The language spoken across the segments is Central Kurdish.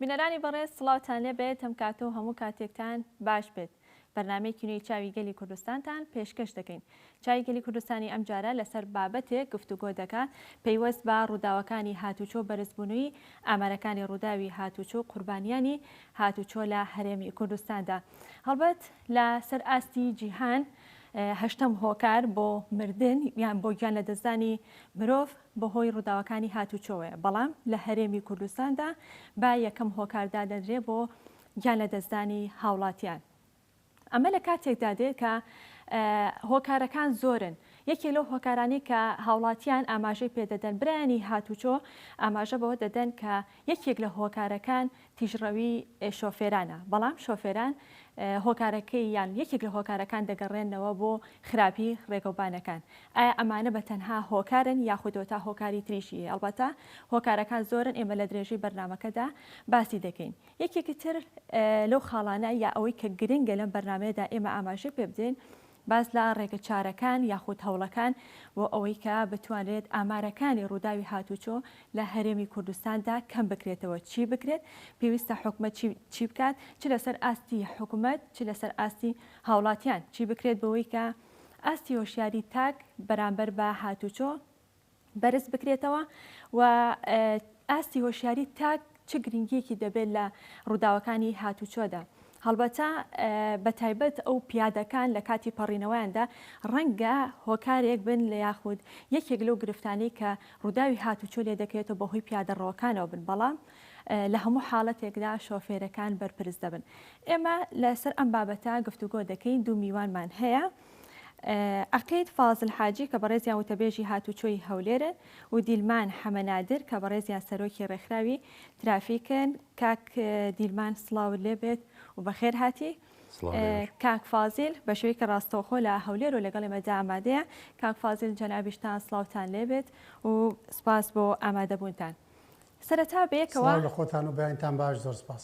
بینەرانی بەڕێز سڵاوتان لێبێت هەم کاتۆ هەموو کاتێکتان باش بێت بەرنمەی کینوی چاوی گەلی کوردستانتان پێشکەش دەکەین چای گەلی کوردستانی ئەمجارە لەسەر بابەتێک گفتوگۆ دەکات پەیوەست بە ڕووداوەکانی هاتووچۆ و بەرزبوونووی ئامارەکانی ڕووداوی هاتووچۆ و قوربانیانی هاتووچۆ لە هەرێمی کوردستاندا هەڵبەت لە سەر ئاستی جیهان هەشتەم هۆکار بۆ مردن یان بۆ گیان لە دەستدانی مرۆڤ بەهۆی ڕووداوەکانی هاتووچۆوەیە بەڵام لە هەرێمی کوردستاندا با یەکەم هۆکار دادەنرێ بۆ گیان لە دەستدانی هاوڵاتیان. ئەمە لە کاتێکدا دێت کە هۆکارەکان زۆرن، یەکێک لەو هۆکارانەی کە هاوڵاتیان ئاماژەی پێدەدەن، برایانی هاتوچۆ ئاماژە بەوە دەدەن کە یەکێک لە هۆکارەکان تیژڕەوی شۆفێرانە، بەڵام شۆفێران هۆکارەکەی یان یەکێک لە هۆکارەکان دەگەڕێنەوە بۆ خراپی ڕێگەوبانەکان، ئایا ئەمانە بە تەنها هۆکارن یاخودەوە تا هۆکاری تریشی هەیە، ئەڵبەتە هۆکارەکان زۆرن ئێمە لە درێژەی بەرنامەکەدا باسی دەکەین. یەکێکی تر لەو خاڵانە یا ئەوەی کە گرنگە لەم بەرنامەیەدا ئێمە ئاماژەی پێ بدەین، باس لە ڕێگە چارەکان یاخود هەوڵەکان بۆ ئەوەی کە بتوانرێت ئامارەکانی ڕووداوی هاتووچۆ لە هەرێمی کوردستاندا کەم بکرێتەوە، چی بکرێت، پێویستە حکومەت چی بکات، چ لەسەر ئاستی حکومەت، چ لەسەر ئاستی هاوڵاتیان چی بکرێت بۆوەی کە ئاستی هۆشیاری تاک بەرامبەر بە هاتووچۆ، بەرز بکرێتەوە و ئاستی هۆشیاری تاک چ گرنگیەکی دەبێت لە ڕووداوەکانی هاتوچۆدا هەڵبەتە بە تایبەت ئەو پیادەکان لە کاتی پەڕینەوەیاندا ڕەنگە هۆکارێک بن لە یاخود یەکێک لەو گرفتانی کە ڕووداوی هاتوچۆ لێ دەکرێتەوە بەهۆی پیادەڕەوەکانەوە بن بەڵام لە هەموو حاڵەتێکدا شۆفێرەکان بەرپرس دەبن ئێمە لەسەر ئەم بابەتە گفتوگۆ دەکەین دوو میوانمان هەیە عەقید فازل حاجی کە بەڕێزیان وتەبێژی هاتووچۆی هەولێرن و دیلمان حەمە نادر کە بەڕێزیان سەرۆکی ڕێکخراوی ترافیکن کاک دیلمان سڵاو لێبێت و بەخێر هاتی کاک فازیل بە شوێکی ڕاستەوخۆ لە هەولێر و لەگەڵ ئێمەدا ئامادەیە کاک فازیل جەنابیشتان سلااوان لێبێت و سپاس بۆ ئامادەبوونتان سەرەتا بێکەوە لە خۆتان و بەیانتان باش زۆر سپاس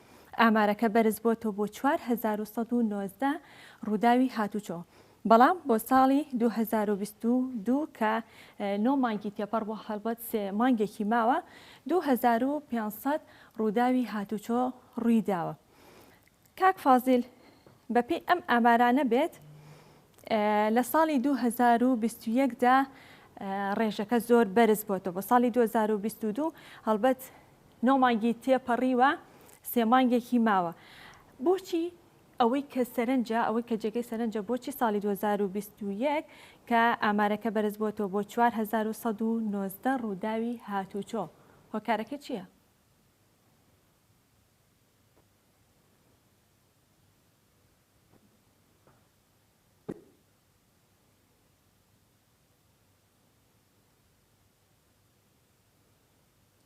ئامارەکە بەرزبووەتەوە بۆ چوار هەزار و سەد و نۆزدە ڕووداوی هاتووچۆ، بەڵام بۆ ساڵی دوو هەزار و بیست و دوو کە نۆ مانگی تێپەڕبووە، هەڵبەت سێ مانگێکی ماوە، دوو هەزار و پێنج سەد ڕووداوی هاتووچۆ ڕوویداوە. کاک فازیل، بەپێی ئەم ئامارانە بێت، لە ساڵی دوو هەزار و بیست و یەک دا ڕێژەکە زۆر بەرزبووەتەوە، بۆ ساڵی دوو هەزار و بیست و دوو هەڵبەت نۆ مانگی تێپەڕیوە سێ مانگێکی ماوە بۆچی ئەوەی کە سەرنجە ئەوەی کە جێگەی سەرنجە بۆچی ساڵی دوو هەزار و بیست و یەک کە ئامارەکە بەرزبووەتەوە بۆ چوار هەزار و سەد و نۆزدە ڕووداوی هاتووچۆ هۆکارەکە چییە؟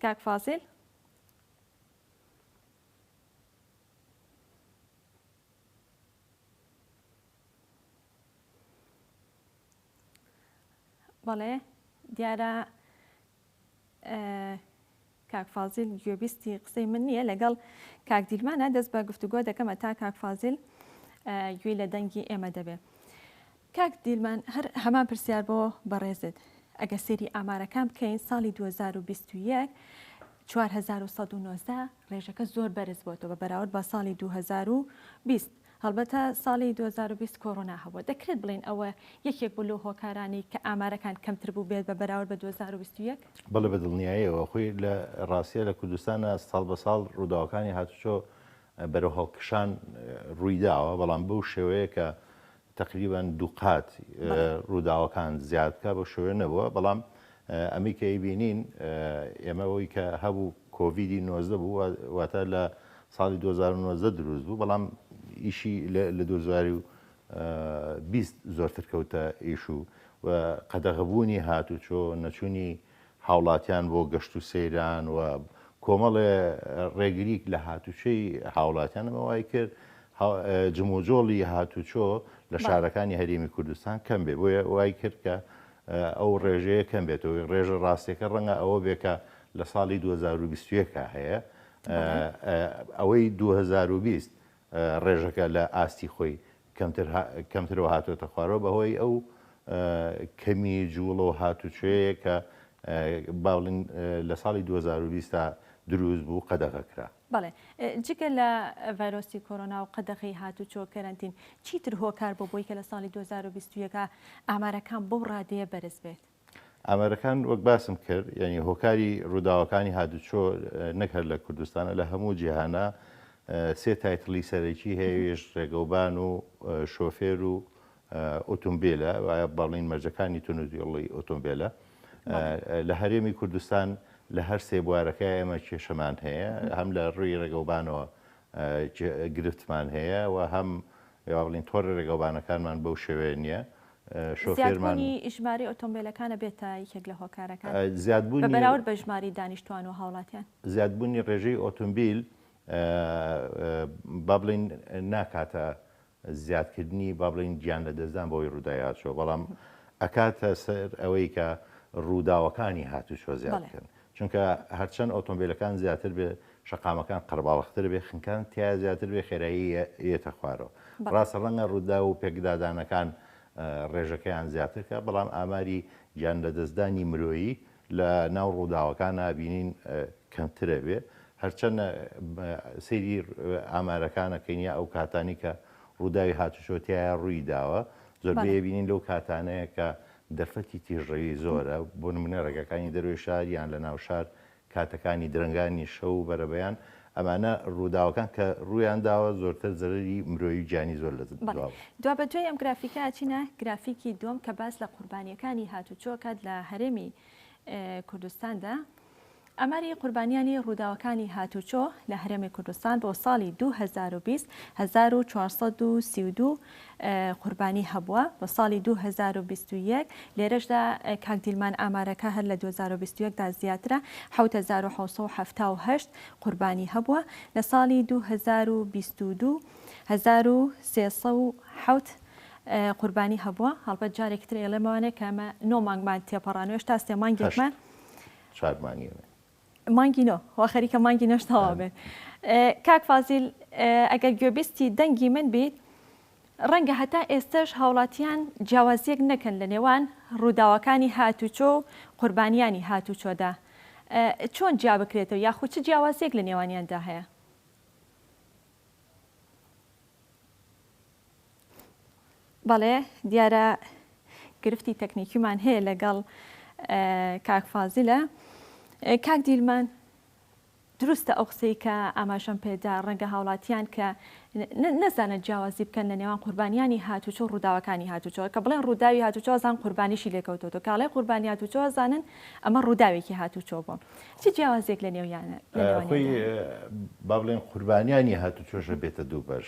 کاک فازیل. بەڵێ دیارە کاک فازیل گوێبیستی قسەی من نییە لەگەڵ کاک دیلمانە دەست بە گفتوگۆ دەکەمە تا کاک فازیل گوێی لە دەنگی ئێمە دەبێ کاک دیلمان هەر هەمان پرسیار بۆ بەڕێزت ئەگەر سەیری ئامارەکان بکەین ساڵی دوو هەزار و بیست و یەک چوار هەزار و سەد و نۆزدە ڕێژەکە زۆر بەرز بۆتەوە بە بەراورد بە ساڵی دوو هەزار و بیست هەڵبەتە ساڵی دوو هەزار و بیست کۆڕۆنا هەبووە دەکرێت بڵێین ئەوە یەکێک بوو لەو هۆکارانەی کە ئامارەکان کەمتر بوو بێت بە بەراورد بە دوو هەزار و بیست و یەک بەڵێ بە دڵنیایەوە خۆی لە ڕاستیە لە کوردستانە ساڵ بە ساڵ ڕووداوەکانی هاتوچۆ بەرەو هەڵکشان ڕووی داوە بەڵام بەو شێوەیە کە تەقریبەن دووقات ڕووداوەکان زیاد بکات بەو شێوەیە نەبووە، بەڵام ئەمەی کە ئەیبینین ئێمە ئەوەی کە هەبوو کۆڤیدی نۆزدە بوو واتە لە ساڵی دوو هەزار و نۆزدە دروست بوو، بەڵام ئیشی لە دوو هەزار و بیست زۆرتر کەوتە ئیش و قەدەغەبوونی هاتوچۆ نەچوونی هاوڵاتیان بۆ گەشت و سەیران و کۆمەڵێ ڕێگریک لە هاتوچۆی هاوڵاتیان ئەمە وای کرد جموجۆڵی هاتوچۆ لە شارەکانی هەرێمی کوردستان کەم بێ بۆیە وای کرد کە ئەو ڕێژەیە کەم بێتەوەی ڕێژە ڕاستەکە ڕەنگە ئەوە بێکە لە ساڵی 2021 هەیە ئەوەی 2020 ڕێژەکە لە ئاستی خۆی کەمترەوە هاتۆتە خوارەوە بەهۆی ئەو کەمی جوڵە و هاتوچۆیە کە با بڵێین لە ساڵی دوو هەزار و بیست تا دروست بوو قەدەغە کرا. بەڵێ جگە لە ڤایرۆسی کۆرۆنا و قەدەغەی هاتوچۆ کەرەنتین چیتر هۆکار بۆ بۆی کە لە ساڵی دوو هەزار و بیست و یەک ئامارەکان بەو ڕادەیە بەرز بێت؟ ئامارەکان وەک باسم کرد یعنی هۆکاری ڕووداوەکانی هادوچۆ نەک هەر لە کوردستانە لە هەموو جیهانە سێ تایتڵی سەرەکی هەیەوێش ڕێگەوبان و شۆفێر و ئۆتۆمبیلە وایە بەڵین مەرجەکانی تونوزیڵی ئۆتۆمبیلە لە هەرێمی کوردستان لە هەر سێ بوارەکە ئێمە کێشەمان هەیە هەم لە ڕووی ڕێگەوبانەوە گرفتمان هەیە و هەم بڵین تۆڕ ڕێگەوبانەکانمان بەو شێوێ نییە زیادبوونی ژمارەی ئۆتۆمبێلەکانە بێتە یەکێک لە هۆکارەکان بە بەراورد بە ژماری دانیشتوان و هاوڵاتیان؟ زیادبوونی ڕێژەی ئۆتۆمبیل با بڵێین ناکاتە زیادکردنی با بڵێین گیان لەدەستدان بەوەی ڕوودای هاتووە بەڵام ئەکاتە سەر ئەوەی کە ڕووداوەکانی هاتووچۆ زیاد بکەن چونکە هەرچەند ئۆتۆمبیلەکان زیاتر بێ شەقامەکان قەرباڵغتر بێ خنکان تیا زیاتر بێ خێرایی یەتە خوارەوە ڕاستە ڕەنگە ڕووداو و پێکدادانەکان ڕێژەکەیان زیاترکە بەڵام ئاماری گیان لەدەستدانی مرۆیی لە ناو ڕووداوەکانە بینین کەمترە بێ هەرچەند سەیری ئامارەکانە کەینیا ئەو کاتانی کە ڕووداوی هاتوچۆ تایە ڕووی داوە زۆربەیە بینین لەو کاتانەیە کە دەرفەتی تیژڕەوی زۆرە، بۆ نموونە ڕێگاکانی دەرەوەی شار یان لە ناو شار، کاتەکانی درەنگانی شەو و بەرەبەیان، ئەمانە ڕووداوەکان کە ڕوویان داوە زۆرتر زەرەری مرۆیی و گیانی زۆر لە بەڵێ دواوە. دوابەدوای ئەم گرافیکە ئەچینە گرافیکی دووەم کە باس لە قوربانییەکانی هاتووچۆ ئەکات لە هەرێمی کوردستاندا. ئاماری قوربانیانی ڕووداوەکانی هاتووچۆ لە هەرێمی کوردستان بۆ ساڵی دوو هەزار و بیست هەزار و چوار سەد و سی و دوو قوربانی هەبووە بۆ ساڵی دوو هەزار و بیست و یەک لێرەشدا کاک دیلمان ئامارەکە هەر لە دوو هەزار و بیست و یەک دا زیاترە حەوت هەزار و حەوت سەد و حەفتا و هەشت قوربانی هەبووە لە ساڵی دوو هەزار و بیست و دوو هەزار و سێ سەد و حەوت قوربانی هەبووە هەڵبەت جارێکی تر ئێڵێمەوانێ کە ئەمە نۆ مانگمان تێپەڕانوێش تا سێ مانگێکمان چوار مانگی نوێ مانگی نۆ وا خەریکە مانگی نۆش تەوا بێت کاک فازیل ئەگەر گوێبیستی دەنگی من بیت ڕەنگە هەتا ئێستش هاوڵاتیان جیاوازیەک نەکەن لە نێوان ڕووداوەکانی هاتوچۆ و قوربانیانی هاتوچۆدا چۆن جیا بکرێتەوە یاخود چ جیاوازیەک لە نێوانیاندا هەیە بەڵێ دیارە گرفتی تەکنیکیمان هەیە لەگەڵ کاک فازیلە کاک دیلمان دروستە ئەو قسەی کە ئاماژەم پێدا ڕەنگە هاوڵاتیان کە نەزانە جیاوازی بکەن لە نێوان قوربانیانی هاتوچۆ ڕووداوەکانی هاتوچۆ کە بڵێن ڕووداوی هاتوچۆزان قوربانیشی لێکەوتۆ کاڵای قوربانی هاتوچۆزانن ئەمە ڕووداوێکی هاتوچۆ بوو چ جیاوازێک لە نێویانە با بڵێن قوربانیانی هاتوچۆشە بێتە دوو بەش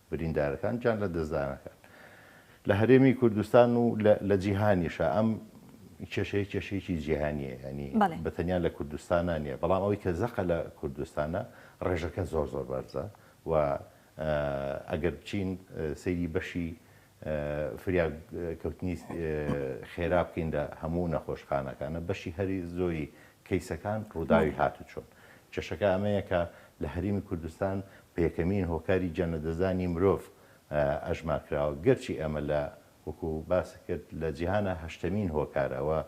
بریندارەکان جان لە دەستدانەکان لە هەرێمی کوردستان و لە جیهانیشە ئەم کێشەیە کێشەیەکی جیهانیە ینی بە تەنیا لە کوردستانە نیە بەڵام ئەوەی کە زەقە لە کوردستانە ڕێژەکە زۆر زۆر بەرزە و ئەگەر بچین سەیری بەشی فریاگ کەوتنی خێرا بکەین لە هەموو نەخۆشخانەکانە بەشی هەری زۆری کەیسەکان ڕووداوی هاتوچۆن کێشەکە ئەمەیە کە لە هەریمی کوردستان بە یەکەمین هۆکاری جەنەدەزانی مرۆڤ ئەژمار کراوە گەرچی ئەمە لە وەکو باست کرد لە جیهانا هەشتەمین هۆکارە وە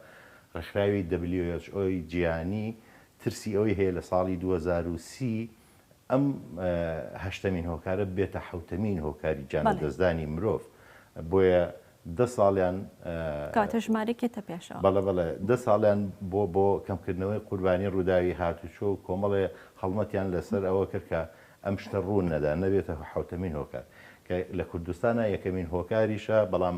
ڕێکخراوی who ی جیهانی ترسی ئەوەی هەیە لە ساڵی دوو هەزار و سی ئەم هەشتەمین هۆکارە ببێتە حەوتەمین هۆکاری گیانلەدەستدانی مرۆڤ، بۆیە دە ساڵیان بەڵێ بەڵێ دە ساڵیان بۆ بۆ کەمکردنەوەی قوربانی ڕووداوی هاتوچۆ و کۆمەڵێ هەڵمەتیان لەسەر ئەوە کرد کە ئەم شتە ڕوون نەدا نەبێتە حەوتەمین هۆکار کە لە کوردستانا یەکەمین هۆکاریشە بەڵام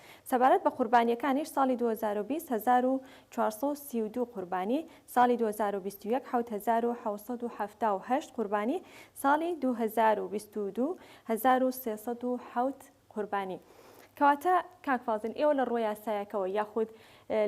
سەبارەت بە قوربانییەکانیش، ساڵی دوو هەزار و بیست هەزار و چوار سەد و سی و دوو قوربانی، ساڵی دوو هەزار و بیست و یەک حەوت هەزار و حەوت سەد و حەفتا و هەشت قوربانی، ساڵی دوو هەزار و بیست و دوو هەزار و سێ سەد و حەوت قوربانی. کەواتە کاک فازیل ئێوە لە ڕووە یاسایەکەوە یاخود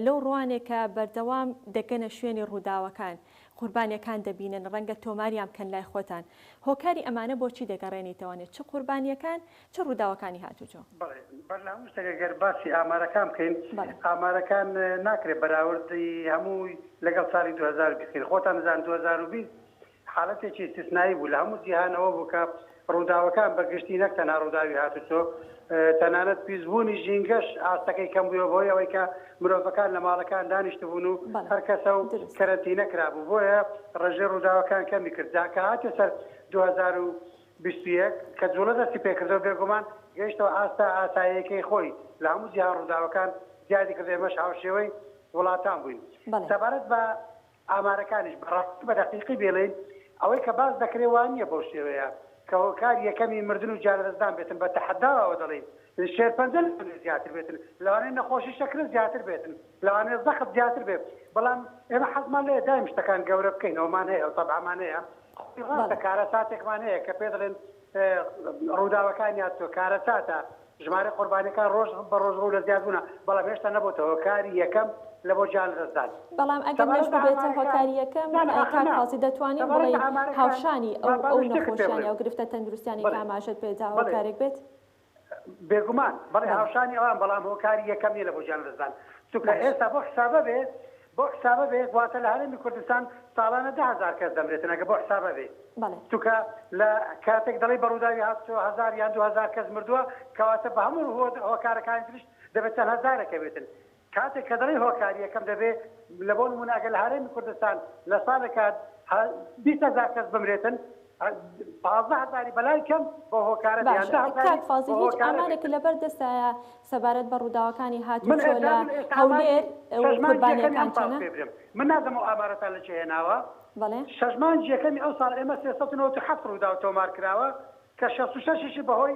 لەو ڕووانێ کە بەردەوام دەگەنە شوێنی ڕووداوەکان قوربانییەکان دەبینن ڕەنگە تۆماریان بکەن لای خۆتان هۆکاری ئەمانە بۆچی دەگەڕێنیتەوە نێ چ قوربانییەکان چ ڕووداوەکانی هاتووچۆ؟ بەڵێ برنا وشتێک ئەگەر باسی ئامارەکان بکەین ئامارەکان ناکرێت بەراوردی هەمووی لەگەڵ ساڵی دوو هەزار و بیست بکەین خۆتان دەزانن دوو هەزار و بیست حالەتێکی ئیستیسنایی بوو لە هەموو جیهانەوە بوو کە ڕووداوەکان بە گشتی نەک تەنها ڕووداوی هاتوچۆ تەنانەت پیسبوونی ژینگەش ئاستەکەی کەم بووە بۆی ئەوەی کە مرۆڤەکان لە ماڵەکان دانیشتبوون و بەڵێ هەر کەسە و دروست کەرەنتینە کرابوو بۆیە ڕێژەی ڕووداوەکان کەمی کرد جا کە هاتە سەر دوو هەزار و بیست و یەک، کە جووڵە دەستی پێکردەوە، بێگومان گەیشتەوە ئاستە ئاساییەکەی خۆی لە هەموو جیهان ڕووداوەکان زیادی کردو ئێمەش هاوشێوەی وڵاتان بووین سەبارەت بە ئامارەکانیش بەڕاستی بە دەقیقی بێڵێین ئەوەی کە باس دەکرێ وانییە بەو شێوەیە کە هۆکار یەکەمی مردن و گیانلەدەستدان بێتن بە تەحەداوە ئەوە دەڵێین شێرپەنجە لەوانەیە زیاتر بێتن، لەوانەیە نەخۆشی شەکرە زیاتر بێتن، لەوانەیە زەخت زیاتر بێت، بەڵام ئێمە حەزمان لێیە دایم شتەکان گەورە بکەینەوەمان هەیە و تەبعمان هەیە، خۆی ڕاستە کارەساتێکمان هەیە کە پێ دەڵێن ڕووداوەکان یا تۆ کارەساتە، ژمارەی قوربانیەکان ڕۆژ بە ڕۆژ ڕوو لە زیادبوونە، بەڵام هێشتا نەبۆتە هۆکاری یەکەم لە بۆ گیان لەدەستدان. بەڵام ئەگەر نەشببێتە هۆکاری یەکەم کاک قازی دەتوانین بڵێین هاوشانی ئەو نەخۆشیانە و گرفتە تەندروستیانەی کە ئاماژەت پێدا هۆکارێک بێت؟ بێگومان، بەڵێ هاوشانی ئەوان بەڵام هۆکاری یەکەم نیە لە بۆ گیانلەدەستدان چونکە ئێستا بۆ حسابە بێ بۆ حسابە بێ گواتە لە هەرێمی کوردستان ساڵانە دە هەزار کەس دەمرێتن ئەگە بۆ حسابە بێ چونکە لە کاتێک دەڵێی بە ڕووداوی هاتووە هەزار یان دوو هەزار کەس مردووە کەواتە بە هەموو هۆکارەکانی تریش دەبێ چەند هەزارەکە بێتن کاتێک کە دەڵێی هۆکاری یەکەم دەبێ لە بۆ نموونە ئەگەر لە هەرێمی کوردستان لە سالێکا بیست هەزار کەس بمرێتن پازدە هەزاری بەلای کەم بۆ هۆکارە دەیان دە هەزاری کاک فازیل هیچ ئامارێک لە بەر دەستایە سەبارەت بە ڕووداوەکانی هات و چۆ لە هەولێر قوربانیەکان چەنە من نازم و ئامارەتان لە چێ هێناوە بەڵێ شەش مانگی یەکەمی ئەو ساڵ ئێمە سێ سەد و نەوەد و حەفت ڕووداو تۆمار کراوە کە شەست و شەش شی بە هۆی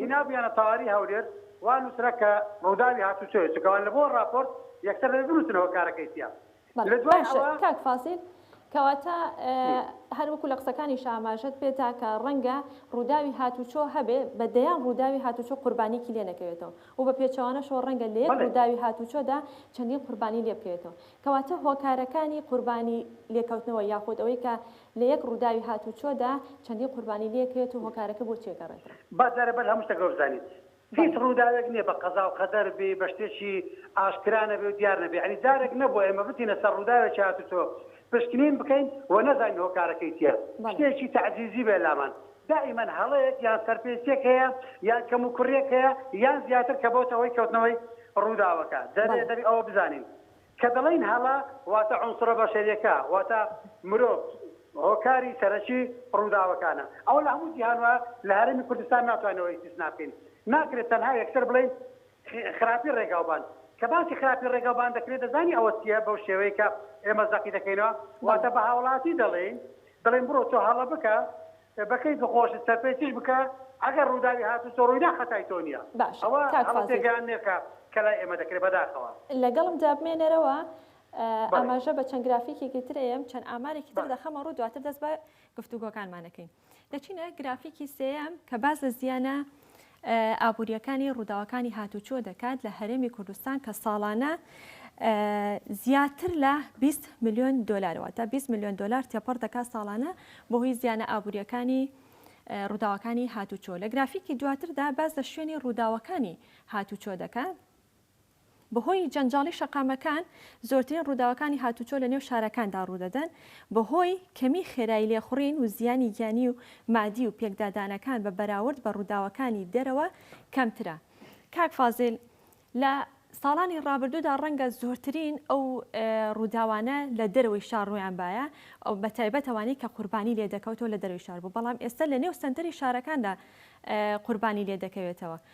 هینابویانە تەواری هەولێر وا نوسرا کە ڕوداوی هاتوچۆیە چونکە وان لەبۆ ڕاپۆرت یەکسەر دەبێ بنوسن هۆکارەکەی چیە بەڵێ لەدوای باشە ئەوە. کاک فازیل کەواتە هەر وەکو لە قسەکانیشا ئاماژەت پێدا کە ڕەنگە ڕوداوی هاتوچۆ هەبێ بە دەیان ڕوداوی هاتوچۆ قوربانیەکی لێ نەکەوێتەوە و بە پێچەوانەشەوە ڕەنگە لە یەک بەڵێ. ڕوداوی هاتوچۆدا چەندین قوربانی لێ بکەوێتەوە کەواتە هۆکارەکانی قوربانی لێکەوتنەوە یاخود ئەوەی کە لە یەک ڕووداوی هاتووچۆدا چەندین قوربانی لێکرێت و هۆکارەکە بۆچی ئەگەڕێتەوە؟ با جارێ بەر هەموو شتێکەوە بزانیت هیچ ڕووداوێک نییە بە قەزا و قەدەر بێی بە شتێکی ئاشکرا نەبێ و دیار نەبێ یەعنی جارێک نەبووە ئێمە بچینە سەر ڕووداوێکی هاتووچۆ پشکنین بکەین و نەزانین هۆکارەکەی چییە شتێکی تەعجیزی بێ لامان دائیمەن هەڵەیەک یان سەرپێچییەک هەیە یان کەموکوڕییەک هەیە یان زیاتر کە بۆتە هۆی کەوتنەوەی ڕووداوەکە جارێ دەبێ ئەوە بزانین کە دەڵێین هەڵە واتە عونسرە بەشەریەکە واتە مرۆڤ هۆکاری سەرەکی ڕووداوەکانە ئەوە لە هەموو جیهان وایە لە هەرێمی کوردستان ناتوانین ئەوە ئیستیسنا بکەین ناکرێت تەنها یەکسەر بڵێین خراپی ڕێگاوبان کە باسی خراپی ڕێگاوبان دەکرێت دەزانی ئەوە چییە بەو شێوەیە کە ئێمە زەقی دەکەینەوە واتە بە هاوڵاتی دەڵێین دەڵێن بڕۆ تۆ هەڵە بکە بەکەیف و خۆشت سەرپێ چش بکە ئەگەر ڕوداوی هاتو تۆ ڕویدا خەتای تۆ نیە باش ئەوە کاک هەڵە فازیل. تێگەیاندنێکە کە لای ئێمە دەکرێ بەداخەوە. لەگەڵم جا بمێنەرەوە بەڵێ. ئاماژە بە چەند گرافیکێکی تر ئەیەم چەند ئامارێکی تر بەڵێ. دەخەمە ڕوو دواتر دەست بە گفتوگۆکانمان ئەکەین دەچینە گرافیکی سێیەم کە باس لە زیانە ئابوورییەکانی ڕووداوەکانی هاتووچۆ دەکات لە هەرێمی کوردستان کە ساڵانە زیاتر لە بیست ملیۆن دۆلارە، واتە بیست ملیۆن دۆلار تێپەڕ دەکات ساڵانە بەهۆی زیانە ئابوورییەکانی ڕووداوەکانی هاتووچۆ. لە گرافیکی دواتردا باس لە شوێنی ڕووداوەکانی هاتووچۆ دەکات. بەهۆی جەنجاڵی شەقامەکان، زۆرترین ڕووداوەکانی هاتووچۆ لە نێو شارەکاندا ڕوودەدەن، بەهۆی کەمی خێرایی لێخوڕین و زیانی گیانی و مادی و پێکدادانەکان بە بەراورد بە ڕووداوەکانی دەرەوە کەمترە. کاک فازیل، لە ساڵانی ڕابردوودا ڕەنگە زۆرترین ئەو ڕووداوانە لە دەرەوەی شار ڕوویان بایە، بە تایبەت ئەوانەی کە قوربانی لێدەکەوتەوە لە دەرەوەی شار بوو، بەڵام ئێستا لە نێو سەنتەری شارەکاندا قوربانی لێدەکەوێتەوە،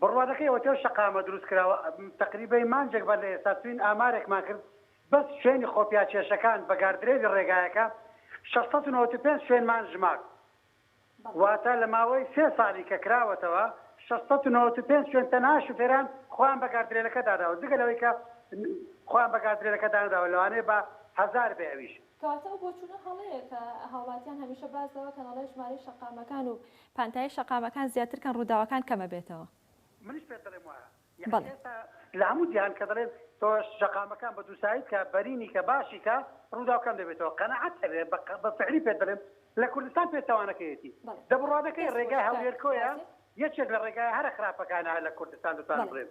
بڕوانەکەی ئۆتێل شەقامە دروستکراوە، تەقریبەی مانجێک بەر لە ئێستا چوین ئامارێکمان کرد بەس شوێنی خۆپیاکێشەکان بە گاردرێلی ڕێگایەکە شەش سەد و نەوەد و پێنج شوێنمان ژمارد واتە لە ماوەی سێ ساڵی کە کراوەتەوە شەش سەد و نەوەد و پێنج شوێن تەنها شوفێران خۆیان بە گاردرێلەکە داناوە جگە لەوەی کە خۆیان بە گاردرێلەکە دانراوە لەوانەیە بە هەزار بێ ئەویش. کەواتە ئەو بۆچونە هەڵەیە کە هاوڵاتیان هەمیشە باس دەوەکەن ئەڵێ ژمارەی شەقامەکان و پانتایی شەقامەکان زیاتر کەن ڕووداوەکان کەمە بێتەوە. منیش پێت دەڵێم وایە یەعنی ئێستا لە هەموو جیهان کە دەڵێن تۆ شەقامەکان بە دووسایی بکە بەرینی کە باشی کە ڕووداو کەم دەبێتەوە قەناعەت هەبێ بە فعلی پێت دەڵێم لە کوردستان پێچەوانەکەیەتی دەبڕوادەکەی ڕێگای هەولێر کۆیە یەکێک لە ڕێگایە هەرە خراپەکانە لە کوردستان دەتوانم بڵێم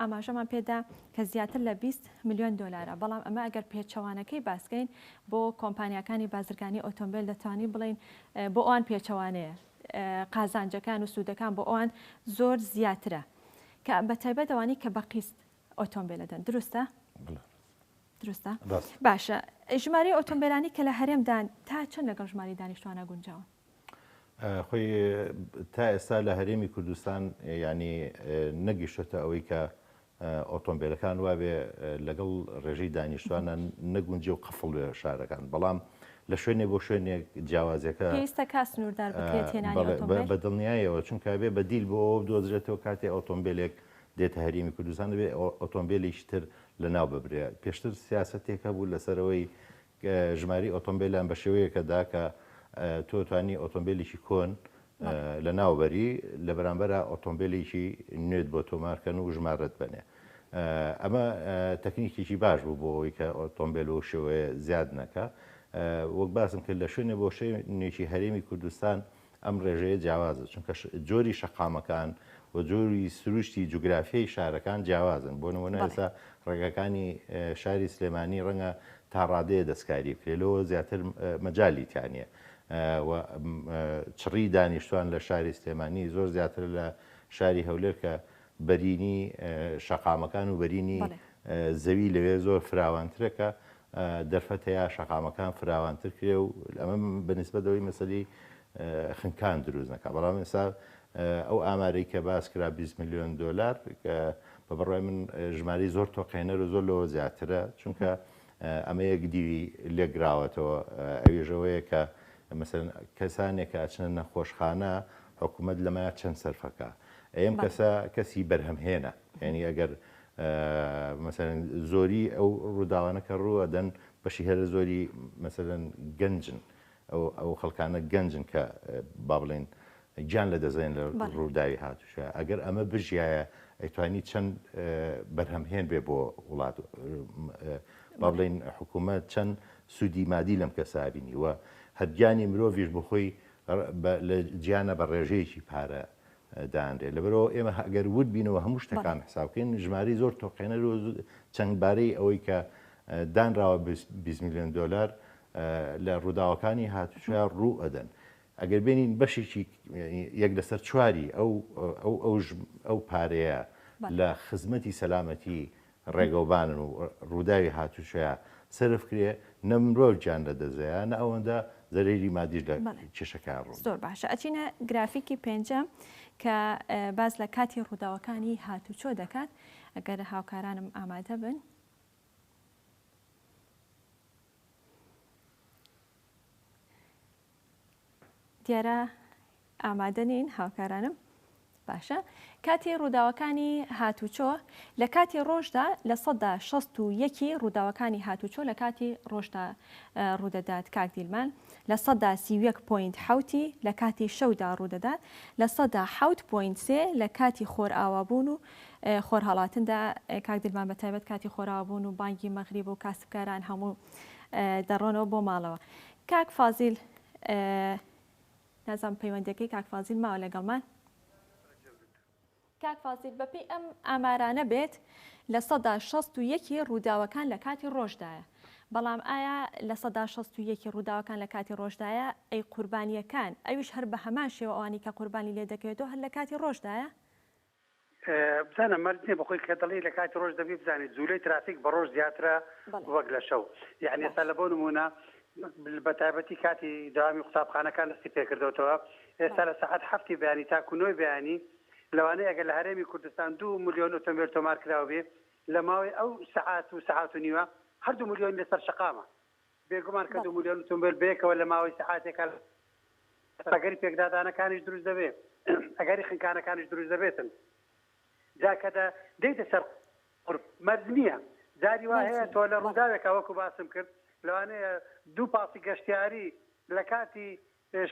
ئاماژەمان پێدا کە زیاتر لە بیست ملیۆن دۆلارە، بەڵام ئەمە ئەگەر پێچەوانەکەی باسکەین بۆ کۆمپانیاکانی بازرگانی ئۆتۆمبێل دەتوانین بڵێین بۆ ئەوان پێچەوانەیە، قازانجەکان و سوودەکان بۆ ئەوان زۆر زیاترە کە بەتایبەت ئەوانەی کە بە قیست ئۆتۆمبێلە دەن، دروستە؟ دروستە؟ باشە، ژمارەی ئۆتۆمبێلانی کە لە هەرێمدان تا چەند لەگەڵ ژمارەی دانیشتوانە گونجاون؟ خۆی تا ئێستا لە هەرێمی کوردستان یانی نەگیشتە ئەوەی کە ئۆتۆمبیلەکان وابێ لەگەڵ ڕێژەی دانیشتوانە نەگونجێ و قفڵ بێ شارەکان بەڵام لە شوێنێ بۆ شوێنێک جیاوازەکە پێویستە کا سنووردار بکرێت هێنانی ئۆتۆمبیل بە دڵنیایەوە چونکە بێ بەدیل بۆ ئەوە بدۆزرێتەوە کاتێ ئۆتۆمبیلێک دێتە هەرێمی کوردستان دەبێ ئۆتۆمبیلێکی تر لەناو ببرێت پێشتر سیاسەتێک هەبوو لەسەرەوەی ژمارەی ئۆتۆمبێلان بە شێوەیەکە دا کە تۆ توانی ئۆتۆمبێلێکی کۆن لە ناو بەری لە بەرامبەرا ئۆتۆمبێلێکی نوێت بۆ تۆمارکەن و ژمارەت بەنێ ئەمە تەکنیکێکی باش بوو بۆ ئەوی کە ئۆتۆمبێل و شێوەیە زیاد نەکە وەک باسم کرد لە شوێنێ بۆ شوێنێکی هەرێمی کوردستان ئەم ڕێژەیە جیاوازە چونکە جۆری شەقامەکان و جۆری سروشتی جوگرافیای شارەکان جیاوازن بۆ نمونە ئێستا ڕێگەکانی شاری سلێمانی ڕەنگە تا ڕادەیە دەستکاری بکرێت لەوە زیاتر مەجای تیانە و چڕی دانیشتوان لە شاری سلێمانی زۆر زیاتر لە شاری هەولێر کە بەرینی شەقامەکان و بەرینی زەوی لەوێ زۆر فراوانترەکە دەرفەت هەیە شەقامەکان فراوانتر کرێ و ئەمە بە نیسبەت ئەوەی مەسەلی خنکان دروست نەکا بەڵام ئێستا ئەو ئامارەی کە باس کرا 20 میلیۆن دۆلار کە بە بڕای من ژماری زۆر تۆقێنەر و زۆر لەوە زیاترە چونکە ئەمە یەک دیوی لێگراوەتەوە ئەوێژەوەیە کە مەسەن کەسانێک کە ئەچنە نەخۆشخانە حکوومەت لەمە چەند سەرفەکە ئەم کەسە کەسی بەرهەمهێنە یعنی ئەگەر مەسەلەن زۆری ئەو ڕووداوانە کە ڕوو ئەدەن بەشی هەرە زۆری مەسەلەن گەنجن ئەو خەڵکانە گەنجن کە با بڵێن گیان لە دەزێن لە ڕووداوی هاتوشە ئەگەر ئەمە بژایە ئەیتوانی چەند بەرهەمهێن بێ بۆ وڵات با بڵێن حکوومەت چەند سوودی مادی لەم کەسابینی وە هەرگیانی مرۆڤش بخۆی لە جیانە بە ڕێژەیەکی پارە دانرێت لەبەرئەوە ئێمە ئەگەر ورد بینەوە هەموو شتەکان حساب بکەین ژماری زۆر تۆقێنەر و چەند بارەی ئەوەی کە دانراوە 20 میلیۆن دلار لە ڕووداوەکانی هاتوچە ڕوو ئەدەن ئەگەر بێنین بەشێکی یەک لەسەر چواری ئەو ئەو ئەو پارەیە لە خزمەتی سەلامەتی ڕێگەوبانن و ڕووداوی هاتوچۆیان سەرف کرێ، نە مرۆڤ گیان لە دەست دەیا، نە ئەوەندە زەرەری مادیش لە بەڵێ کێشەکەیان ڕوو زۆر دەدا. باشە ئەچینە گرافیکی پێنجەم کە باس لە کاتی ڕووداوەکانی هاتوچۆ دەکات ئەگەر هاوکارانم ئامادە بن. دیارە ئامادە نین هاوکارانم باشە کاتی ڕووداوەکانی هاتوچۆ لە کاتی ڕۆژدا لە سەدا شەست و یەکی ڕووداوەکانی هاتوچۆ لە کاتی ڕۆژدا ڕوودەدات کاک دیلمان لە سەدا سی یەک پوینت حوتی لە کاتی شەودا ڕوودەدات لە سەدا حوت پوینت سێ لە کاتی خۆرئاوابوون و خۆرهڵاتندا کاک دیلمان بە تایبەت کاتی خۆراوابوون و بانگی مەغریب و کاسبکاران هەموو دەڕۆنەوە بۆ ماڵەوە کاک فازیل نازانم پەیوەندیەکەی کاک فازیل ماوە لەگەڵمان؟ کاک فازیل بەپێی ئەم ئامارانە بێت لە سەدا شەست و یەکی ڕووداوەکان لە کاتی ڕۆژدایە بەڵام ئایا لە سەدا شەست و یەکی ڕووداوەکان لە کاتی ڕۆژدایە ئەی قوربانیەکان ئەویش هەر بە هەمان شێوە ئەوانی کە قوربانی لێ دەکەوێتەوە هەر لە کاتی ڕۆژدایە؟ بزانە مەرج نیە بەخۆی کە دەڵی لە کاتی ڕۆژ دەبی بزانێت جوولەی ترافیک بە ڕۆژ زیاترە وەک لە شەو یعنی ئێستا لە بۆ نمونە بە تایبەتی کاتی داوامی قوتابخانەکان دەستی پێکردەوەتەوە ئێستا لە ساعت هەفتی بەیانی تاکو نۆی بەیانی لەوانەیە ئەگەر لە هەرێمی کوردستان دو ملیۆن ئۆتۆمبیل تۆمار کراوە بێ لە ماوەی ئەو سەعات و سەعات و نیوە هەردوو ملیۆن لەسەر شەقامە بێگومان کە دوو ملیۆن ئوتومبێل بەیەکەوە لە ماوەی سەعاتێکا ئەگەری پێکدادانەکانیش دروست دەبێت، ئەگەری خنکانەکانیش دروست دەبێتن. جا کە دە دێیتە سەر قورب مەرج نییە. جاری وا هەیە تۆ لە ڕووداوێکا وەکو باسم کرد لەوانەیە دوو پاسی گەشتیاری لە کاتی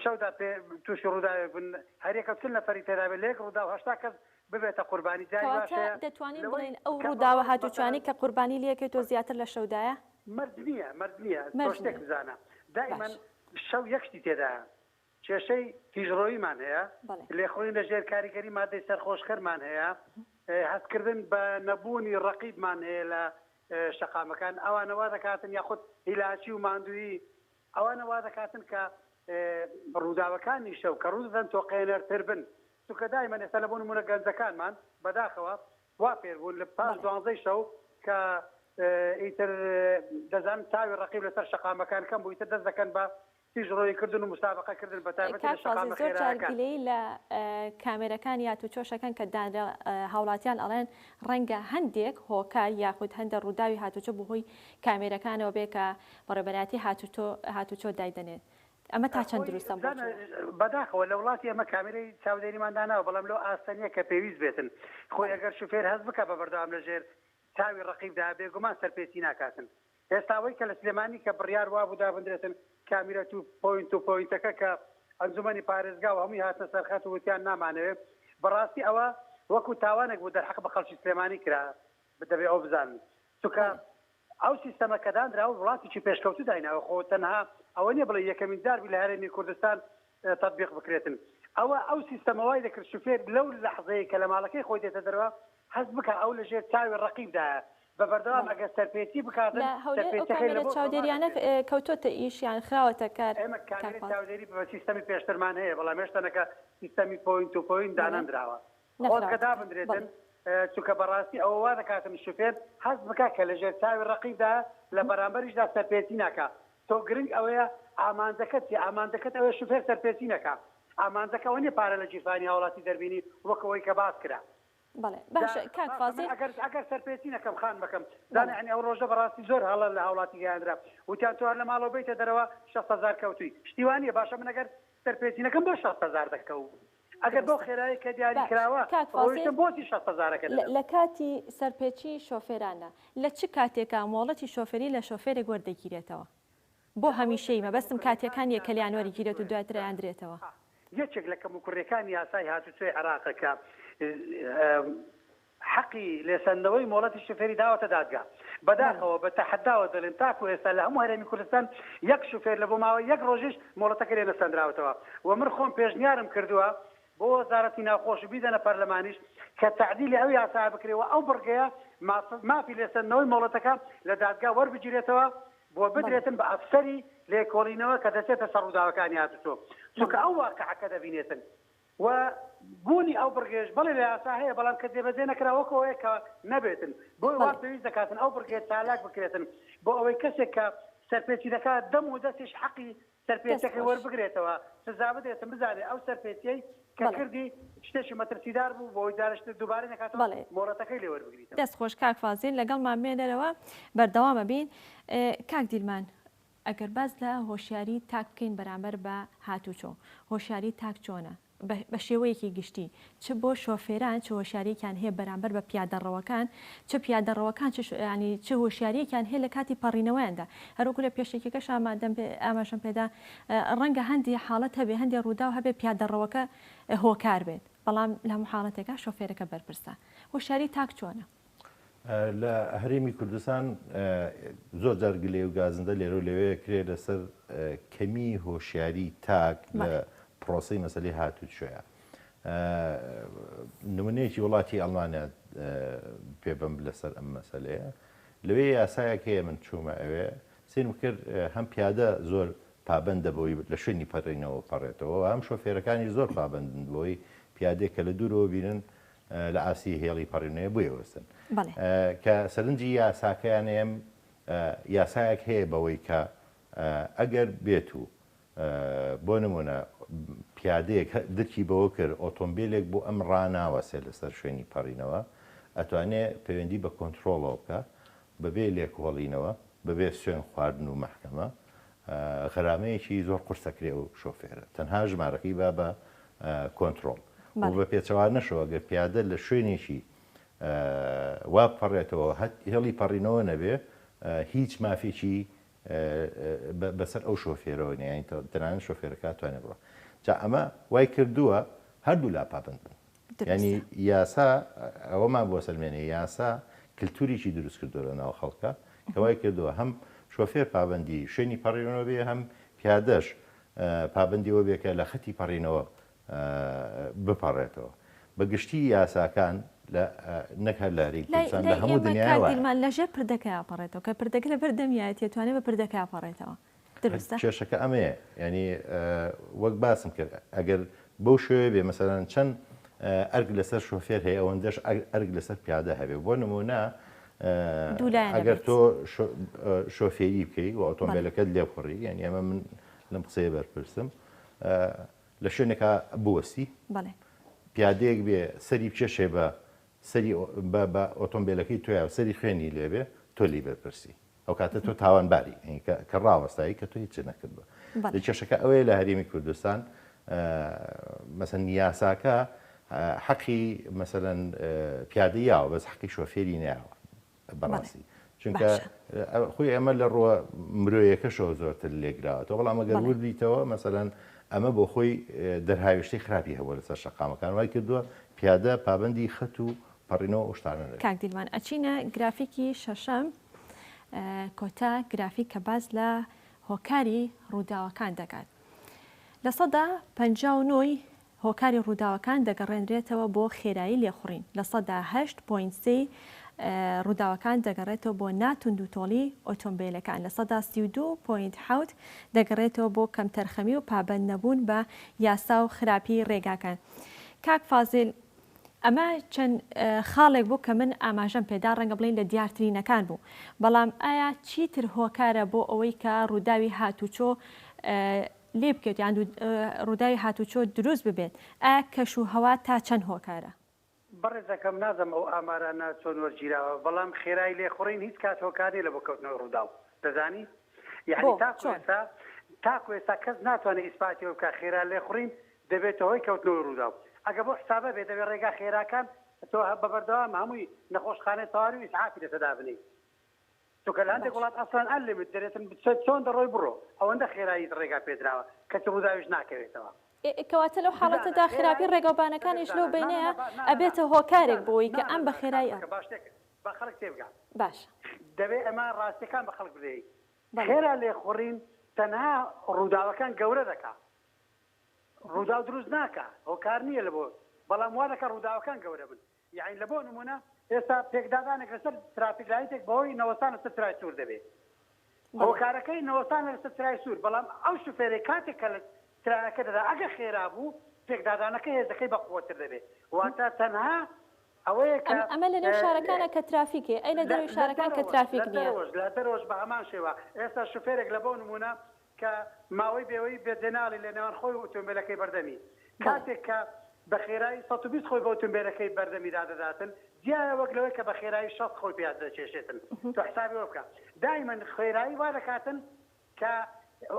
شەودا پێ تووشی ڕووداوێک بن هەریەکە چل نەفەری تێدابێت لەیەک ڕووداو هەشتا کەس ببێتە قوربانی جاری باش هەیە کەواتە دەتوانین لەوەی بڵێین ئەو کە ڕووداوە بەڕۆژ هاتوچۆیانەی مەسەلەن کە قوربانی لێکەیت و زیاتر لە شەودایە؟ مەرج نییە مەرج نییە تۆ مەرج شتێک نییە بزانە دائیمەن باشە. شەو یەک شتی تێدایە کێشەی تیژڕۆییمان هەیە بەڵێ. لێخوڕین لە ژێر کاریگەری مادەی سەرخۆشکەرمان هەیە هەستکردن بە نەبوونی ڕەقیبمان هەیە لە شەقامەکان ئەوانە وا دەکاتن یاخود هیلاکی و ماندوویی ئەوانە وادەکاتن کە ڕووداوەکانی شەو کە ڕوودەدەن تۆقێنەرتر بن، چونکە دایمەن ئێستا لە بۆ نموونە گەنجەکانمان بەداخەوە وا فێر بوون لە پاش دوانزەی شەو کە ئیتر دەزانن چاوی ڕەقیب لەسەر شەقامەکان کەم بوو ئیتر دەست دەکەن بە تیژڕۆیی کردن و مسابەقە کردن بە تایبەتی لە شەقامە خێراکان. کاک قازی، زۆر جار گلەیی لە کامێرەکان یا تووچۆشەکەن کە دانرا هاوڵاتیان ئەڵێن ڕەنگە هەندێک هۆکار یاخود هەندێک ڕووداوی هاتووچۆ بە هۆی کامێرەکانەوە بێ کە بە ڕێبەرایەتی هاتوچۆ هاتوچۆ دای دەنێن ئەمە تا چەند دروستە بۆ تۆ؟ بەداخەوە لە وڵاتی ئێمە کامێرەی چاودێریمان داناوە بەڵام لەو ئاستە نیە کە پێویست بێتن خۆی ئەگەر شوفێر هەست بکا بە بەردەوام لە ژێر چاوی ڕەقیبدا بێگومان سەرپێچی ناکاتن ئێستا ئەوەی کە لە سلێمانی کە بڕیار وابوو دابندرێتن کامیرە تو پۆینت و پۆینتەکە کە ئەنجومەنی پارێزگا و هەمووی هاتنە سەر خەت و وتیان نامانەوێ بەڕاستی ئەوە وەکو تاوانێک بوو دەرحەق بە خەڵکی سلێمانی کرا دەبێ ئەوە بزانن چونکە ئەو سیستەمە کە دانراوە وڵاتێکی پێشکەوتوو دایناوە خۆ تەنها ئەوە نیە بڵێ یەکەمین جار بوو لە هەرێمی کوردستان تطبیق بکرێتن ئەوە ئەو سیستەمە وای دەکرد شوفێر لەو لەحزەیە کە لە ماڵەکەی خۆی دێتە دەرەوە هەست بکە ئەو لەژێر چاوی ڕقیبدایە بە بەردەوام ئەگەر سەرپێچی بکات لە هەولێر کامێرا چاودێریانە کەوتۆتە ئیش یان خراوەتە کار ئێمە کامێرا چاودێری بە سیستەمی پێشترمان هەیە بەڵام هێشتەنەکە سیستەمی پۆینت و پۆینت دانەنراوە خۆزگە دابندرێتن چونکە بەڕاستی ئەوە وا دەکاتن شوفێر هەست بکا کە لەژێر چاوی ڕەقیبدایە لە بەرامبەریشدا سەرپێچی ناکا تۆ گرنگ ئەوەیە ئامانجەکەت چیە ئامانجەکەت ئەوەیە شوفێر سەرپێچی نەکا ئامانجەکە ئەوە نیە پارە لە گیرفانی هاوڵاتی دەربینی وەک ئەوەی کە باس کرا بەڵێ باشە کاک فازیل. ئەگەر ئەگەر سەرپێچی نەکەم خانمەکەم زانە یانی ئەو ڕۆژە بەڕاستی زۆر هەڵە لە هاوڵاتی گەیاندرا وتیان تۆ هەر لە ماڵەوە بێیتە دەرەوە شەست هەزار کەوتووی شتی وا نیە باشە من ئەگەر سەرپێچینەکەم بۆ شەست هەزار دەکە و ئەگەر بەو خێرایەی کە دیاری کراوە ڕۆیشتم بۆچی شەست هەزارەکە دەدەم؟ لە کاتی سەرپێچی شۆفێرانە لە چ کاتێکا مۆڵەتی شۆفێری لە شۆفێرێک وەردەگیرێتەوە بۆ هەمیشەیی؟ مەبەستم کاتیەکان نیە کە لیان وەریگیرێت و دواتر ئەیاندرێتەوە. یەکێک لە کەموکوڕیەکانی یاسای هاتوچۆی عێراقە کە حەقی لێسەندنەوەی مۆڵەتی شوفێری داوەتە دادگا. بەداخەوە بە تەحەداوە دەڵێم تاکو ئێستا لە هەموو هەرێمی کوردستان یەک شوفێر لە بۆ ماوەی یەک ڕۆژیش مۆڵەتەکەی لێ نەسەندراوەتەوە و من خۆم پێشنیارم کردووە بۆ وەزارەتی ناوخۆش و بیدەنە پەرلەمانیش کە تەعدیلی ئەو یاسایە بکرێ و ئەو بڕگەیە ماف مافی لێسەندنەوەی مۆڵەتەکە لە دادگا وەربگیرێتەوە و بدرێتن بە ئەفسەری لێکۆڵینەوە کە دەچێتە سەر ڕووداوەکانی هاتوچۆ چونکە ئەو واقعە کە دەبینێتن و بوونی ئەو بڕگەیەش بەڵێ لە یاسا هەیە بەڵام کە جێبەجێ نەکرا وەکو ئەوەیە کە نەبێتن بۆیە وا بەڵێ. پێویست دەکاتن ئەو بڕگەیە چالاک بکرێتن بۆ ئەوەی کەسێک کە سەرپێچی دەکات دەم و دەستیش حەقی دەست سەرپێچیەکەی خۆش. وەربگرێتەوە سزا بدرێتن بزانێ ئەو سەرپێچیەی کە بەڵێ. کردی شتێکی مەترسیدار بوو بۆ ئەوەی جارش تر دووبارەی نەکاتەوە بەڵێ. مۆڵەتەکەی لێ وەربگریتەوە. دەست خۆش کاک فازیل لەگەڵمان بمێنەرەوە بەردەوامەبین کاک دیلمان ئەگەر باس لە هۆشیاری تاک بکەین بەرامبەر بە هاتوچۆ، هۆشیاری تاک چۆنە؟ بە شێوەیەکی گشتی، چ بۆ شۆفێران چ هۆشیارییەکیان هەیە بەرامبەر بە پیادەڕەوەکان، چ پیادەڕەوەکان چ هۆشیارییەکیان هەیە لە کاتی پەڕینەوەیاندا. هەروەکو لە پێشەکیەکەش ئاماژەم پێدا، ڕەنگە هەندێ حاڵەت هەبێت، هەندێ ڕووداو هەبێت پیادەڕەوەکە هۆکار بێت، بەڵام لە هەموو حاڵەتێکا شۆفێرەکە بەرپرسە. هۆشیاری تاک چۆنە؟ لە هەرێمی کوردستان زۆر جار گلەی و گازندە لێرەو لەوێ کرێ لەسەر کەمی هۆشیاری تاک لە پرۆسی مەسلی هاتوو شوێە نمونەیەکی وڵاتی ئەڵمانیا پێبم لەسەر ئەم مەسلەیە لەوێ یاسایەک هەیە من چوومە ئەوێ سێرم کرد هەم پیادە زۆر پابندە بۆی لە شوێنی پەرینەوە پەڕێتەوە هەم شۆفێرەکانی زۆر پابندن بۆی پیادێک کە لە دوورەوە بینن لە ئاستی هێڵی پەڕیونەیە بۆیە وەستن کە سەرنجی یاساکەیانەیەم یاسایەک هەیە بەوەی کە ئەگەر بێت و بۆ نمونە پیادەیەک درکی بەوە کرد ئۆتۆمبیلێک بۆ ئەم ڕناوەسێ لەسەر شوێنی پەڕینەوە ئەتوانێ پەیوەندی بە کۆنتترۆڵەوە بکە بەبێ لێکۆڵینەوە، بەبێ سوێن خواردن و مەحکەمە، غەرامەیەکی زۆر قورس ئەکرێ ئەو شۆفێرە، تەنها ژمارەکەی با بە کۆنترۆڵ و بە پێچەوانەشەوە گەر پیادە لە شوێنێکی وا بپەڕێتەوە هێڵی پەڕینەوە نەبێ هیچ مافێکی بەسەر ئەو شۆفێرەوە نیە، یانی تەنانەت شۆفێرەکە ئەتوانێ بڕوا. جا ئەمە وای کردووە هەردوو لا پابەند بن. یانی یاسا ئەوەمان بۆ سەلمێنێ یاسا کلتوریکی دروست کردوە لە ناو خەڵکا کە وای کردوە هەم شۆفێر پابەندی شوێنی پەڕێنەوە بێ هەم پیادەش پابندیەوە بێ کە لە خەتی پەڕینەوە بپەڕێتەوە بە گشتی یاساکان نەک هەر لاری کوردستان لە هەموو دنیامان لەژێر پردەکە پەڕێتەوە کە پردەکە لە بەردەمیایەتێ توانێت بە پردەکە پەڕێتەوە دروستە؟ کێشەکە ئەمەیە یانی وەک باسم کرد ئەگەر بەو شوێ بێ مەسەرەن چەند ئەرگ لەسەر شوفێر هەیە ئەوەندەش ئەرگ لەسەر پیادە هەبێ بۆ نمونە ئەگەر تۆ شۆفێری بکەی و ئۆتۆمبیلەکەت لێ بخڕی یعنی ئەمە من لەم قسەیە بەرپرسم لە شوێنێکا بوەستی پیادەیەک بێ سەری بچێشێ بە سەری بە ئۆتۆمبیلەکەی تویا و سەری خوێنی لێبێ تۆ لی بەرپرسی ئەو کاتە تۆ تاوانباری کە ڕاوەستایی کە تۆ هیچ نەکردوە لە کێشەکە ئەوەیە لە هەرێمی کوردستان مەسەن یاساکە حەقی مەسەەن پیادە یاوە بەس حەقی شۆفێری ناوە بەڕاستی چونکە خۆی ئەمە لە ڕووە مرۆیەکەشەوە زۆرتر لێگراوەەوە بەڵام ئەگەر وردیتەوە مەسەەن ئەمە بۆ خۆی دەرهاویشتی خراپی هەبوو لەسەر شقامەکان وای کردووە پیادە پابندی خەت و پەڕینەوە ئۆشتانە کاکدیلمان ئەچینە گرافیکی شەشەم کۆتا گرافیک کە باس لە هۆکاری ڕووداوەکان دەکات. لە سەدا پەنجا و نۆی هۆکاری ڕووداوەکان دەگەڕێنرێتەوە بۆ خێرایی لێخوڕین، لە سەدا هەشت پۆینت سێ ی ڕووداوەکان دەگەڕێتەوە بۆ ناتوندوتۆڵی ئۆتۆمبێلەکان، لە سەدا سی و دوو پۆینت حەوت دەگەڕێتەوە بۆ کەمتەرخەمی و پابەندنەبوون بە یاسا و خراپی ڕێگاکان. کاک فازیل، ئەمە چەند خاڵێک بوو کە من ئاماژەم پێدا، ڕەنگە بڵێین لە دیارترینەکان بوو. بەڵام ئایا چیتر هۆکارە بۆ ئەوەی کە ڕووداوی هاتوچۆ لێ بکەوێت یان ڕووداوی هاتوچۆ دروست ببێت؟ ئایا کەش و هەوا تا چەند هۆکارە؟ بەڕێزەکەم نازم ئەو ئامارانە چۆن وەرگیراوە، بەڵام خێرای لێخوڕین هیچ کات هۆکار نیە لە بۆ کەوتنەوەی ڕووداو. دەزانی؟ یانی تاکو ئێستا تاکو ئێستا کەس ناتوانێت ئیسپاتی ئەوە بکات خێرا لێخوڕین دەبێتە هۆی کەوتنەوەی رووداو. ئەگە بەو حسابە بێت دەبێت رێگا خێراکان تۆ بە بەردەوام هەمووی نەخۆشخانەی تەواوی و ئیسعافی لەسەر دابنێی. چونکە لە هەندێک باشە. وڵات ئەسڵەن ئەن لیمت دەرێتن بچە چۆن دەڕۆی بڕۆ. ئەوەندە خێراییت رێگا پێدراوە کەچ رووداویش ناکەوێتەوە. ئێ کەواتە لەو بزانە، حاڵەتەدا خێرایی خێرایی رێگا و دەبێت بانەکانیش لەو بزانە. نا نا بەینەیە نا با نا نا نا. ئەبێتە هۆکارێک بزانە، بۆی کە بزانە ئەم بە بزانە کاک خێرایی ئەم. مەکە باشتر کە با خەڵک تێبگا. باشە. دەبێت ئەمە راستیەکان بە خەڵک بلێی. بەڵێ. خێرا لێخوڕین تەنها رووداوەکان گەورە دەکا. ڕووداو دروست ناکا هۆکار نیە لەبۆ بەڵام وادەکا ڕووداوەکان گەورە بن یاعین لەبۆ نمونە ئێستا پێکدادانێک لەسەر ترافیک لایتێک بەهۆی نەوەستان لەسەر چرای سور دەبێ هۆکارەکەی نەوەستانە لەسەر چرای سور بەڵام ئەو شوفێرەی کاتێک کە ترانەکە دەدا ئەگە خێرا بوو پێکدادانەکە هێزەکەی بەقوەتر دەبێ واتە تەنها ئەوەیە کە ئەمە لەنێو شارەکانە کە ترافیکێ ئەی لە دەرەوەی شارەکان کە ترافیک نیە لە دەرەوەش بە هەمان شێوە ئێستا شوفێرێک لەبۆ نمونە کە ماوەی بێوەی بێ جێناڵی لە نێوان خۆی و ئوتومبێلەکەی بەردەمی بەڵێ. کاتێک کە بە خێرایی سەد و بیست خۆی بە ئوتومبێلەکەی بەردەمیدا دەداتن جیایە وەک لەوەی کە بە خێرایی شەست خۆی پێ دەکێشێتن تۆ حسابی ئەوە بکە دایمەن خێرایی وا دەکاتن کە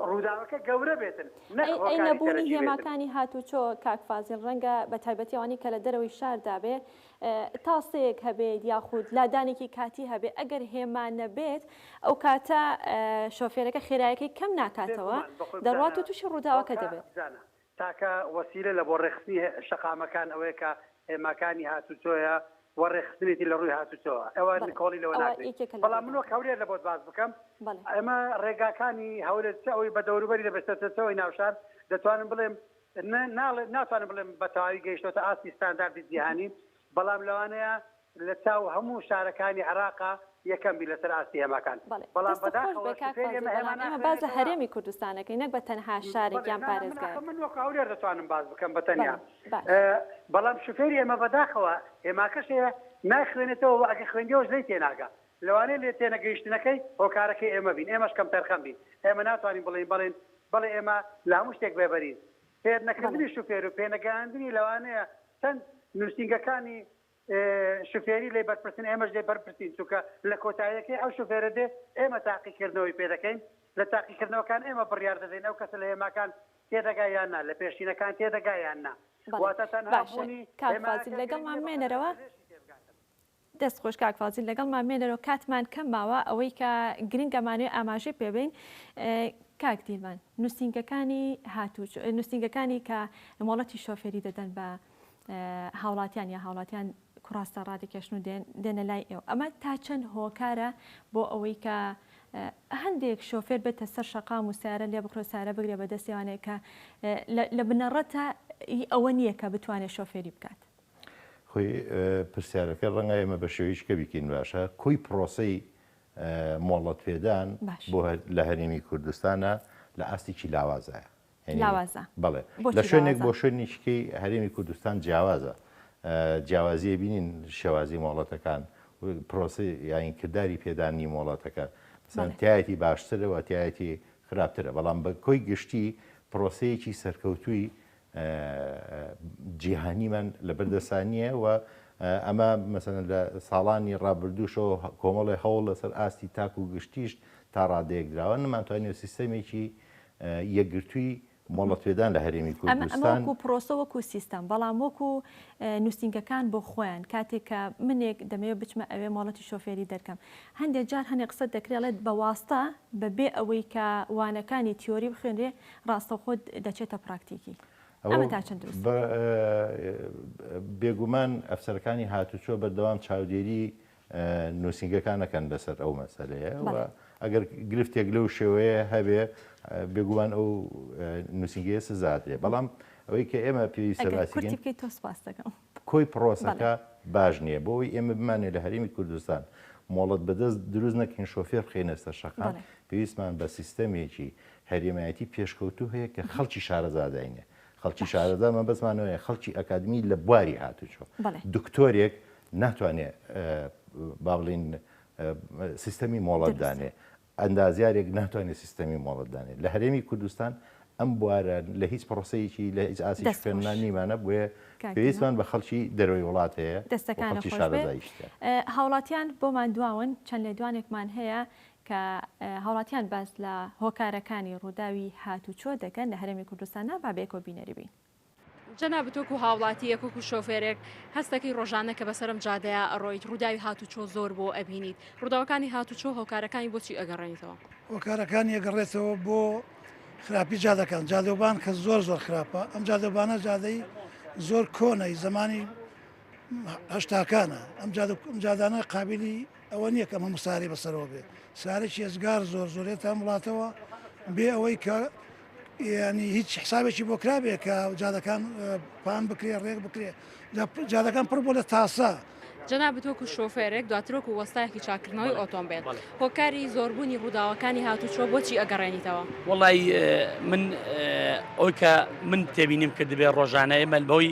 ڕووداوەکە گەورە بێتن نەک ئەی ئەی هۆکاری نەبوونی سەرەکی بێتن. هێماکانی هاتووچۆ کاک فازیل ڕەنگە بە تایبەتی ئەوانەی کە لە دەرەوەی شاردا بێ تاسەیەک هەبێت یاخود لادانێکی کاتی هەبێت ئەگەر هێما نەبێت ئەوکاتە شۆفێرەکە خێرایەکەی کەم ناکاتەوە دەڕوات و توشی ڕووداوەکە دەبێت. تاکە وەسیلە لە بۆ ڕێکخستنی شەقامەکان ئەوەیە کە هێماکانی هاتوچۆیە و ڕێکخستنێتی لە ڕووی هاتوچۆوە ئەوە نکۆڵی لەوە ناکرێت بەڵام من وەک هەولێر لە بۆت باس بکەم ئەمە ڕێگاکانی هەولێر چ ئەوەی بە دەوروبەری دەبێت چ ئەوەی ناوشار دەتوانم بڵێم ناڵێم ناتوانم بڵێم بە تەواوی گەیشتۆتە ئاستی ستانداردی جیهانی، بەڵام لەوانەیە لە چاو هەموو شارەکانی عێراق یەکەم بی لەسەر ئاستی هێماکان. بەڵام بەداخەوە سفێر ئێمە هێما ناخوێنێتەوە. بەڵێ دەستت خۆش، بەڵام ئێمە باس لە هەرێمی کوردستان دەکەین نەک بە تەنها شارێک یان پارێزگایەک. ناخۆ من وەکو هەولێر دەتوانم باس بکەم بە تەنیا. بەڵام سفێری ئێمە بەداخەوە هێماکەش هەیە نایخوێنێتەوە و ئەگەر خوێندیەوەش لێی تێناگا. لەوانەیە لێ تێنەگەیشتنەکەی هۆکارەکەی ئێمە بین، ئێمەش کەمتەرخەم بین، ئێمە ناتوانین بڵێین بەڵێن، بەڵێ ئێمە لە هەموو شتێک بێبەرین. فێر بەڵێ. نەکردنی شوفێر و پێنەگەیاندنی لەوانەیە چەند نووسینگەکانی شوفێری لێ بەرپرسن، ئێمەش لێ بەرپرسین، چونکە لە کۆتاییەکەی ئەو شوفێرە دێ ئێمە تاقیکردنەوەی پێ دەکەین، لە تاقیکردنەوەکان ئێمە بڕیار دەدەین ئەو کەسە لە هێماکان تێدەگا یان نا، لە پێشینەکان تێدەگا یان نا. بەڵێ. واتە تەنها باشە بوونی کاک فازیل هێمایەکە گرنگ لەگەڵمان نییە بە قەدەر بمێنەرەوە. پزێشکی تێبگاتن. دەست خۆش کاک فازیل لەگەڵمان مێنەرەوە کاتمان کەم ماوە ئەوەی کە گرنگە مانوێ ئاماژەی پێبین کاک دیلمان نووسنگەکانی هاتوو نووسنگەکانی کە مۆڵەتی شۆفێری دەدەن بە هاوڵاتیان یا هاوڵاتیان کوڕاستە ڕادێکێشن و دێنە لای ئێو ئەمە تا چەند هۆکارە بۆ ئەوەی کە هەندێک شۆفێر بێتە سەر شقام و سارە لێ بخرۆ سارە بگرێ بە دەستێوانێک کە لە بنەڕەتە ئەوە نییە کە بتوانێت شۆفێری بکات خۆی پرسیارەکە ڕەنگە ئێمە بە شێوەی شکە بیکەین باشە کۆی پرۆسەی مۆڵەت پێدان بۆ لە هەرێمی کوردستانە لە ئاستێکی لاوازایە بڵێ لە شوێنێک بۆ شوێنیشکی هەرێمی کوردستان جیاوازە جیاوازیە بینین شێوازی مۆڵەتەکان پرۆسی یاین کردداری پێدانی مۆڵەتەکە سانتایەتی باشترەوە تایەتی خراپترە بەڵام بە کۆی گشتی پرۆسەیەکی سەرکەوتووی جیهانیمان لەبەردەستا نییە و ئەمە مەسەلەن لە ساڵانی ڕابردووشەوە کۆمەڵێ هەوڵ لەسەر ئاستی تاک و گشتیش تا ڕادەیەک دراوە نەمانتوانێت سیستەمێکی یەکگرتووی مۆڵەتپێدان لە هەرێمی کوردستان وەکو پرۆسە وەکو سیستەم بەڵام وەکو نووسینگەکان بۆ خۆیان کاتێک کە منێک دەمەوێت بچمە ئەوێ مۆڵەتی شۆفێری دەرکەم هەندێک جار هەنێک قسە دەکرێڵێت بە واستە بەبێ ئەوەی کە وانەکانی تیۆری بخوێنرێ ڕاستەوخۆ دەچێتە پراکتیکی. ئەمە تا چەند دروستە؟ بێگومان ئەفسەرەکانی هاتوچۆ بەردەوام چاودێری نووسینگەکان دەکەن لەسەر ئەو مەسەلەیە و ئەگەر گرفتێک لەو شێوەیە هەبێ بێگومان ئەو نووسینگەیە سزادرێ بەڵام ئەوەی کە ئێمە پێویستە باسی بکەین. کورتی بکەیت تۆ سپاس دەکەم. کۆی پڕۆسەکە باش نییە بۆ ئەوەی ئێمە بمانێ لە هەرێمی کوردستان مۆڵەت بەدەست دروست نەکەین شۆفێر بخەینە سەر شەقام پێویستمان بە سیستەمێکی هەرێمایەتی پێشکەوتوو هەیە کە خەڵکی شارەزا داینێ خەڵکی شارەزا مەبەستمان وەیە خەڵکی ئەکادمی لە بواری هاتوچۆ دکتۆرێک ناتوانێ با بڵین سیستەمی مۆڵەت دانێ ئەندازیارێک ناتوانێت سیستەمی مۆڵەت دانێت لە هەرێمی کوردستان ئەم بوارە لە هیچ پڕۆسەیەکی لە هیچ ئاستی خوێندنان نیمانە بۆیە پێویستمان بە خەڵکی دەرەوەی وڵات هەیە دەستەکانی شارەزایشتە هاوڵاتیان بۆمان دواون چەند لێدوانێکمان هەیە کە هاوڵاتیان باس لە هۆکارەکانی ڕووداوی هاتوچۆ دەکەن لە هەرێمی کوردستان نابابێکۆ بینەری بین. جەنابت وەکو هاوڵاتییەک وەکو شۆفێرێک هەستەکەی ڕۆژانە کە بەسەرم جادەیە ئەڕۆیت ڕووداوی هاتوچۆ زۆر بۆ ئەبینیت ڕووداوەکانی هاتوچۆ هۆکارەکانی بۆچی ئەگەڕێنیتەوە؟ هۆکارەکانی ئەگەڕێتەوە بۆ خراپی جادەکان جادەوبان کە زۆر زۆر خراپە ئەم جادەبانە جادەی زۆر کۆنەی زەمانی هەشتاکانە ئەم جادانە قابلی ئەوە نییە کە هەموو سارێ بەسەرەوە بێ سارێکی ێزگار زۆر زۆرێت تا وڵاتەوە بێ ئەوەی کە ینی هیچ حسابێکی بۆ کرابێ کە جادەکان پان بکرێ ڕێک بکرێ جادەکان پڕ بۆ لە تاسە جەنا بتۆک و شۆفێرێک دواترۆک و وەستایەکی چاکردنەوەی ئۆتۆمبیل هۆکاری زۆربوونی ڕووداوەکانی هاتوچۆ بۆچی ئەگەڕێنیتەوە وڵی من ئەوکە من تێبینیم کردبێ ڕۆژانە ئێمە بەوەی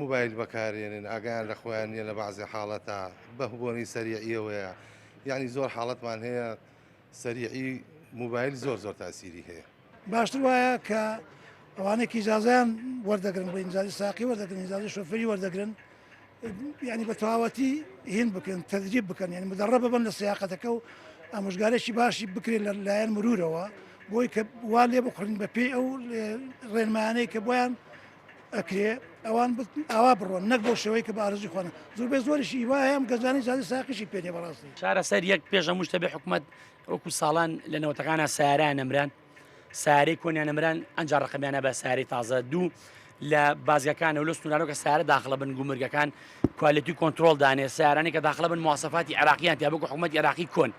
موبایل بەکارێنن ئاگایان لە خۆیان نیە لە بەعزێ حاڵەتا بەه بۆنەی سەریعیەوەیە یعنی زۆر حاڵەتمان هەیە سەریعی موبایل زۆر زۆر تاسیری هەیە باشتر وایە کە ئەوانەی کیجازیان وەردەگرن بۆ ئینجازی ساقی وەردەگرن ئینجازی شوفری وەردەگرن ینی بە تەواوەتی هین بکەن تەدریب بکەن یعنی مدەڕە ببن لە سیاقەتەکە و ئامۆژگارێکی باشی بکرێت لە لایەن مرورەوە بۆی کە وا لێ بخورین بە پێی ئەو ڕێنمایانەی کە بۆیان ئەکرێ ئەوان ئاوا بڕۆن نەک بۆ شێوەی کە بارزی خۆن زور بێ زۆریشی وایەم گەزانی زیادی ساقیشی پێێ بەڕاستی چارەسەر یەک پێشە مشتە بێ حکوومەت وەکو ساڵان لە نەوەتەکانە سارا نەمران سارەی کۆنیان نەمران ئەنج ڕقمیانە بە ساری تازە دوو لە بازگەکان و لە سنوورانەکە سارە داخلە بن گومرگەکان کوالەتی کۆنتترۆل دانێ سارانی کە داخلە بن موواسەفاتی عراقییان تیا بکو حکوومەت عراقی کۆن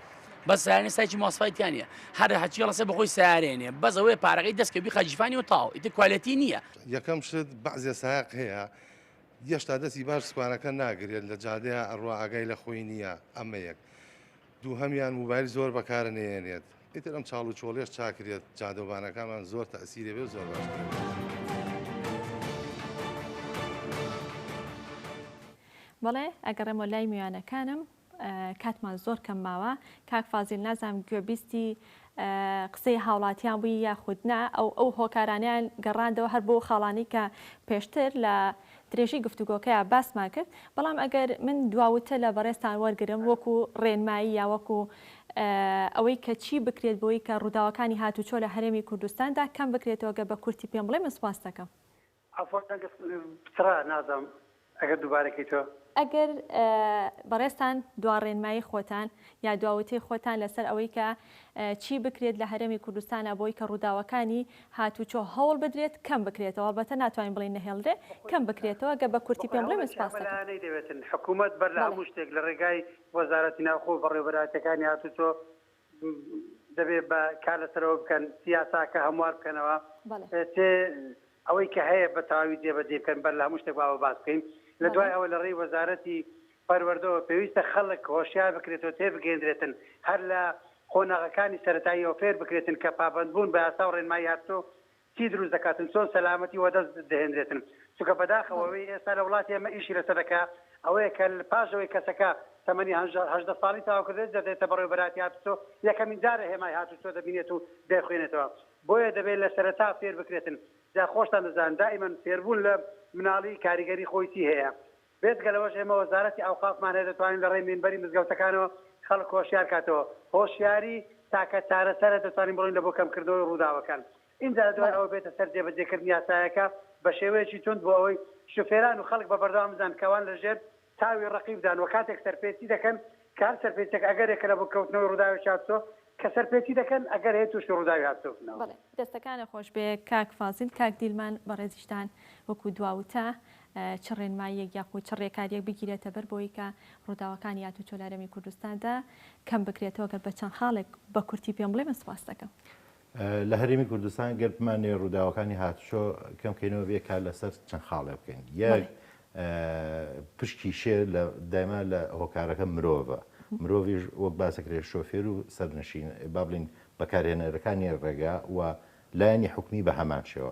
بەس سیارەی سایکی ماسفای تیا نیە هەر هەچی ڕسە بەخۆی سیارێنێ بەس ئەوەیە پارەکەی دەست کە بیخە جیفانی و تاو ئیتر کوالێتی نییە یەکەم شت بەعزێ سایەق هەیە یەشتا دەستی باش سوکانەکە ناگرێت لە جادەیە ئەڕوا ئاگای لە خۆی نییە ئەمە یەک دووهەمیان موبایل زۆر بەکارە نێنێت ئیتر ئەم چاڵ و چۆڵێش چاکرێت جادەوبانەکانمان زۆر تەسیرێ بێ زۆر باش بەڵێ ئەگەڕێمە لای میوانەکانم کاتمان زۆر کەم ماوە کاک فازیل نازانم گوێبیستی قسەی هاوڵاتیان بووی یاخود نا ئەو ئەو هۆکارانیان گەڕاندەوە هەر بۆ خاڵانی کە پێشتر لە درێژەی گفتوگۆکەیە باسمان کرد بەڵام ئەگەر من دواوتە لە بەڕێستان وەرگرم وەکو ڕێنمایی یا وەکو ئەوەی کە چی بکرێت بۆی کە ڕووداوەکانی هاتوچۆ لە هەرێمی کوردستاندا کەم بکرێتەوە گە بە کورتی پێم بڵێ من سپاس دەکەم. عەفوەن دەنگت پچڕا نازم ئەگەر دوبارە کەیتۆ. ئەگەر بەڕێزتان دواڕێنمایی خۆتان یا دواوتەی خۆتان لەسەر ئەوەی کە چی بکرێت لە هەرێمی کوردستانا بۆی کە ڕووداوەکانی هاتوچۆ هەوڵ بدرێت کەم بکرێتەوە ئەڵبەتە ناتوانین بڵێین نەهێڵرێ کەم بکرێتەوە گەر بە کورتی پێم بڵێ من سپاست دەکەم. بەخۆبەلایانەی دەوێتن حکومەت بەر لە هەموو شتێک لە ڕێگای وەزارەتی ناوخۆ و بەڕێوەبەرایەتیەکانی هاتوچۆ دەبێت بە کار لەسەرەوە بکەن یاساکە هەموار بکەنەوە ئەوەی کە هەیە بە تەواوی جێبەجێ بکەن بەر لە هەموو شتێک باوە باس بکەین لە دوای ئەوە لە ڕێی وەزارەتی پەروەردەوە پێویستە خەڵک هۆشیار بکرێتەوە تێ بگەێندرێتن هەر لە قۆناغەکانی سەتاییەوە فێر بکرێتن کە پابندبوون بە یاسا و ڕێنمای هاتۆ چی دروست دەکاتن چۆن سەلامەتی وەدەست دەهێنرێتن چونکە بەداخەوە ئەوەی ئێستا لە وڵاتی ئێمە ئیشی لەسەر دەکا ئەوەیە کە پاش ئەوەی کەسەکە تەمەنی هەژدە ساڵی تەواو کردێت دەدێتە بەڕێوەبەراتی هاتوچۆ یەکەمین دارە هێمای هاتوچۆ دەبینێت و دەیخوێنێتەوە بۆیە دەبێت لە سەرەتا فێر بکرێتن جا خۆشتان دەزانن دائیمەن فێربوون لە مناڵی کاریگەری خۆی چی هەیە بێجگە لەوەش ئێمە وەزارەتی ئەوقافمان هەیە دەتوانین لە ڕێی مینبەری مزگەوتەکانەوە خەڵک هۆشیار کاتەوە، هۆشیاری تاکە چارەسەرە دەتوانین بڕۆین لە بۆ کەمکردنەوەی ڕووداوەکان ئینجا لە دوای ئەوە بێتە سەر جێبەجێکردنی یاسایەکە بە شێوەیەکی توند بۆ ئەوەی شوفێران و خەڵک بە بەردەوام بزانن کە ئەوان لە ژێر چاوی ڕەقیبدان و کاتێک سەرپێچی دەکەن کام سەرپێچیەک ئەگەرێکە لە بۆ کەوتنەوەی ڕووداوێکی هاتوچۆ کە سەرپێچی دەکەن ئەگەر هەیە تووشی ڕووداوی هاتوچۆ بنەوە؟ بەڵێ دەستەکانت خۆشبێ کاک فازیل، کاک دیلمان بەڕێزیشتان وەکو دوا وتە چ ڕێنماییەک یاخود چ ڕێکاریەک بگیرێتە بەر بۆوەی کە ڕووداوەکانی هاتوچۆ لە هەرێمی کوردستاندا کەم بکرێتەوە گەر بە چەند خاڵێک بە کورتی پێم بڵێ من سوپاست دەکەم. لە هەرێمی کوردستان گەر بمانەوێت ڕووداوەکانی هاتوچۆ کەم کەینەوە بێ کار لەسەر چەند خاڵێ بکەین یەک پشکی شێر لە دایما لە هۆکارەکە مرۆڤە مرۆڤش وەک باسەکرێ شۆفێر و سەرنشین با بڵین بەکارهێنەرەکانی ڕێگا و لایەنی حکومی بە هەمان شێوە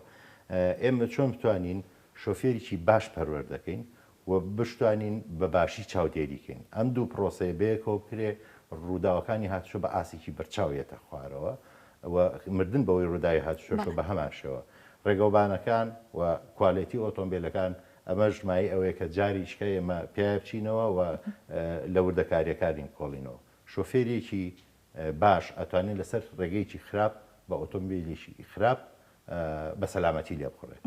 ئێمە چۆن بتوانین شۆفێریی باش پەروەەر دەکەین و بشتوانین بە باشی چاودێری کەین ئەم دوو پرۆسەیە بەیەکەوە بکرێ رووداوەکانی هاتوچۆ بە ئاستێکی بەرچاو یەتە خوارەوە و مردن بەوەی رووداوی هاتوچۆشە بە هەمان شێوە رێگەوبانەکان و کوالێتی ئۆتۆمبێلەکان ئەمەش مایەی ئەوەیە کە جاریچکە ئێمە پیایا بچینەوە و لە وردەکاریەکانی بکۆڵینەوە شۆفێرێکی باش ئەتوانێت لەسەر رێگەیەکی خراپ بە ئۆتۆمبێلێکی خراپ بە سەلامەتی لێبخوڕێت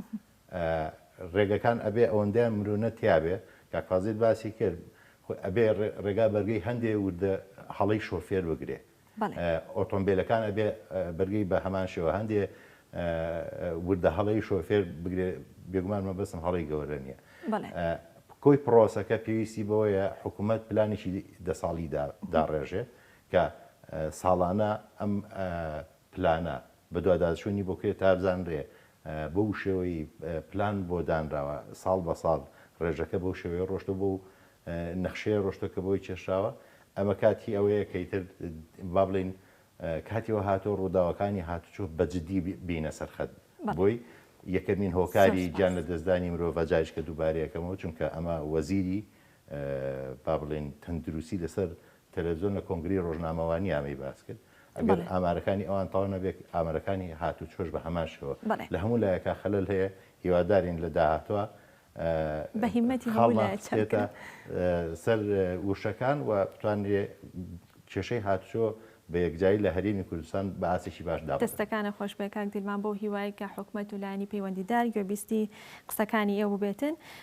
ڕێگەکان ئەبێ ئەوەندەیان مرونە تیابێ کاک فازیل باسی کرد ئەبێ ڕێگا بەرگەی هەندێ وردە هەڵەی شۆفێر بگرێ ئۆتۆمبیلەکان ئەبێ بەرگەی بە هەمان شێوە هەندێ وردە هەڵەی شۆفێر بگرێ بێگومان مەبەستم هەڵی گەورە نییە کۆی پرۆسەکە پێویستی بەوەیە حکوومەت پلانێکی دە ساڵی داڕێژێ کە ساڵانە ئەم پلانە بەدواداچوونی بۆ کوێ تا بزانرێ بەو شێوەی پلان بۆ دانراوە ساڵ بە ساڵ ڕێژەکە بەو شێوەیە ڕۆشتوە بەو نەخشەیە ڕۆشتوە کە بۆی کێشراوە ئەمە کاتی ئەوەیە کە ئیتر با بڵێین کاتی وە هاتۆ ڕووداوەکانی هاتوچۆ بە جددی بینە سەرخەت بۆی یەکەمین هۆکاری گیان لە دەستدانی مرۆڤ جایشکە دووبارەیەکەمەوە چونکە ئەمە وەزیری با بڵێن تەندروستی لەسەر تەلەفزیۆن لە کۆنگرەی ڕۆژنامەوانی ئامەی باس کرد ئەگەر ئامارەکانی ئەوان تەوا نەبێت ئامەرەکانی هاتوچۆش بە هەمان شێوە لە هەموو لایەکا خەلەل هەیە هیوادارین لە داهاتوە خاڵمان بچێتە سەر وشەکان و بتوانرێ کێشەی هاتوچۆ بە یەکجاری لە هەرێمی کوردستان بە ئاستێکی باش دابنرێت. دەستەکانت خۆشبێت کاک دیلمان بەو هیوایەی کە حکومەت و لایەنی پەیوەندیدار گوێبیستی قسەکانی ئێوە ببێتن